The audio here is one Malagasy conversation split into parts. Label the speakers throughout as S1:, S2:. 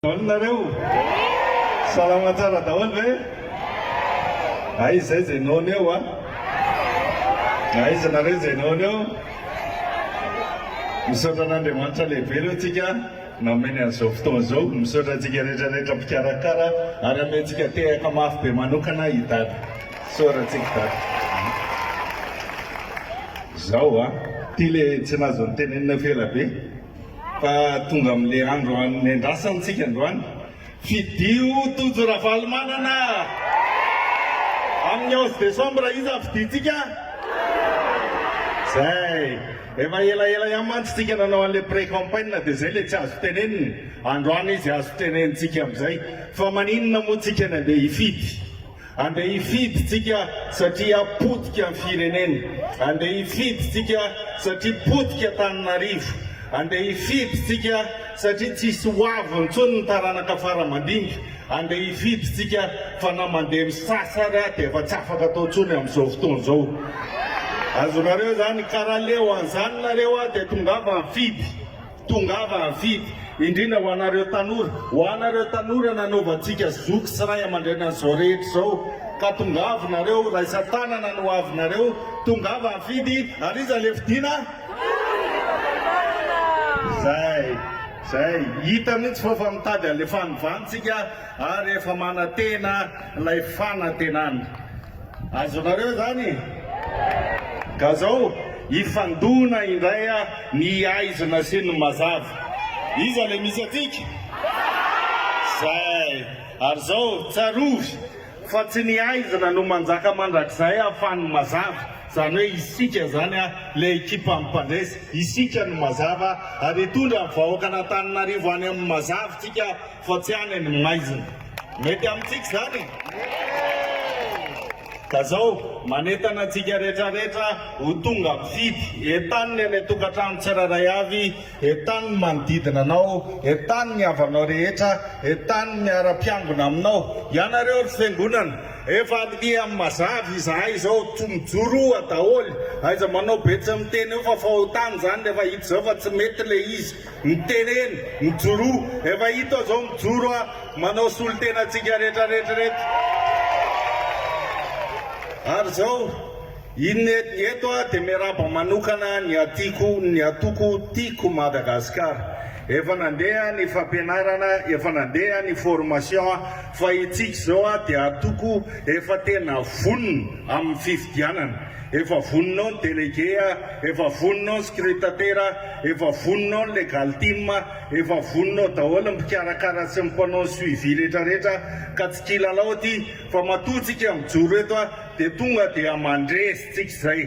S1: Daholo nareo? Salama tsara daholo ve? Hay izay izay noana eo a! Aiza nareo izay noana eo? Misaotra an'Andriamanitra lehibe aloha tsika nameny an'izao fotoana izao. Misaotra antsika rehetra rehetra mpikarakara ary amentsika tehaka mafy be manokana i Dada. Soratsika Dada. Zao a! Ty le tsy nazo notenenina f'ela be. Fa tonga amin'ilay andro anendrasana antsika androany. Fidio Tojo Ravalomanana! Amin'ny onze décembre iza no fidintsika? Zay! Efa elaela ihany mantsy tsika nanao an'ilay pré-campagne dia zay ilay tsy azo tenenina. Androany izy azo tenenintsika amin'izay. Fa maninona moa tsika no andeha hifidy? Andeha hifidy tsika satria potika ny firenena, andeha hifidy tsika satria potika Antananarivo, andeha hifidy tsika satria tsisy hoavy intsony ny taranaka fara mandimby, andeha hifidy tsika fa na mandeha misasa ary dia efa tsy afaka atao intsony amin'izao fotoana izao. Azonareo izany? Ka raha leo an'izany nareo dia tongava nifidy. Tongava havidy, indrindra ho anareo tanora, ho anareo tanora nanaovantsika zoky sy ray aman-dreny an'izao rehetra izao, ka tongava nareo, raisan-tanana ny hoavinareo, tongava havidy, ary iza le fidiana? Zay, zay, hita mihitsy fa efa mitady an'le fanovantsika ary efa manantena ilay fanantenana. Azonareo zany e! Ka zao hifandona indray ny aizina sy ny mazava. Iza le misy antsika? Zay! Ary zao tsarovy fa tsy ny aizina no manjaka mandrakizay fa ny mazava. Zany hoe isika zany le ekipa mpandresy, isika no mazava ary hitondra ny vahoakan'Antananarivo any amin'ny mazava tsika Fa tsy any ny maizina. Mety amintsika izany e! Ka izao, manentana antsika rehetra rehetra ho tonga mifidy. Entano ny any an-tokantrano tsirairay avy, entano ny manodidina anao, entano ny havanao rehetra, entano ny miara-mpiangona aminao. Ianareo ry Fiangonana, efa miha mazava izahay izao, tsy mijoro oa daholo. Aiza manao betsy miteny eo fa fahotana izany rehefa hita izao fa tsy mety ilay izy. Ny teneny mijoroa, efa hita aho zao mijoro a, manao solotena antsika rehetra rehetra reto. Ary zao, in eto aho dia miarahaba manokana ny hatiako, ny hatoko tiako Madagasikara. Efa nandeha ny fampianarana, efa nandeha ny formation a, fa itsika zao a dia hatoko efa tena vonona amin'ny fifidianana. Efa vonona ao ny délégué, efa vonona ao ny scrutatera, efa vonona ao ny legal team, efa vonona ao daholo ny mpikarakara sy ny mpanao ny suivi rehetra rehetra ka tsy kilalao ity fa matoa tsika mijoro eto dia tonga dia mandresy tsika izay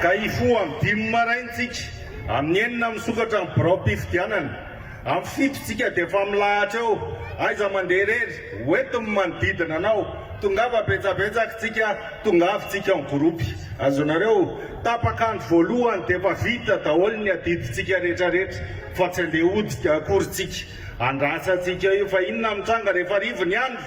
S1: ka hifoha amin'ny dimy maraina tsika amin'ny enina misokatra ny birao-pifidianana. Amin'ny fito tsika dia efa milahatra eo, aiza mandeha irery, hoentiny ny manodidina anao, tongava betsabetsak tsika, tongavy tsika en groupe. Azonareo? Tapaka andro voalohany dia efa vita daholo ny adidy tsika rehetra rehetra fa tsy andeha hoditra akory tsika. Andrasa tsika io fa inona mitranga rehefa rivo ny andro?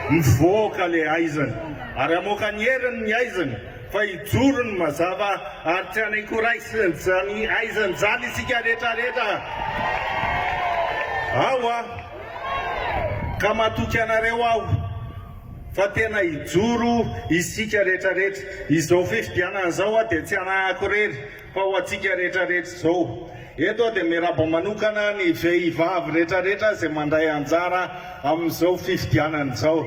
S1: Mivoaka le haizina ary amoaka ny heriny ny haizina. Fa hijoro ny mazava ary tsy hanaiky raisiny aizany izany isika rehetra rehetra ao a! Ka matoky anareo aho fa tena hijoro isika rehetra rehetra. Izao fifidianana izao dia tsy hanahako irery. Fa ho antsika rehetra rehetra izao eto aho dia miaraba manokana ny vehivavy rehetra rehetra izay mandray anjara amin'izao fifidianana izao.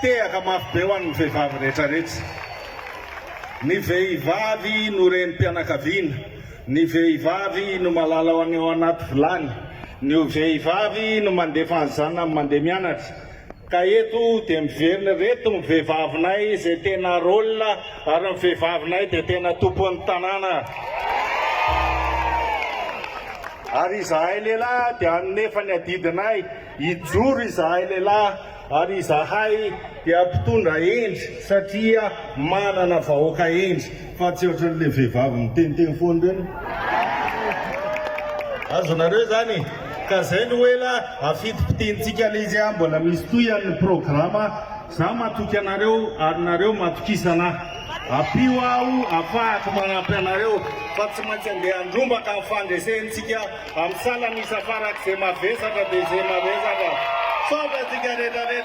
S1: Tehaka mafy be ho an'ny vehivavy rehetra rehetra. Ny vehivavy no renim-pianakaviana, ny vehivavy no malala ny ao anaty vilany, ny vehivavy no mandefa ny zanany mandeha mianatra, Ka eto dia miverina ireto ny vehivavinay izay tena rôle ary ny vehivavinay dia tena tompon'ny tanàna. Ary izahay lehilahy dia hanome efa ny adidinay, hijoro izahay lehilahy ary izahay dia mpitondra hendry satria manana vahoaka hendry. Fa tsy ohatran le vehivavy miteniteny foana ireny. Azonareo izany e! Ka zay no ela afitipitihintsika le izy a! Mbola misy tohihany ny programa. Za matoky anareo ary nareo matokisana ahy. Ampio aho afahako manampy anareo fa tsy maintsy andeha handrombaka ny fandresentsika am salanisa farak'ze mavesatra de ze mavesatra. Misaotra antsika rehetra rehetra.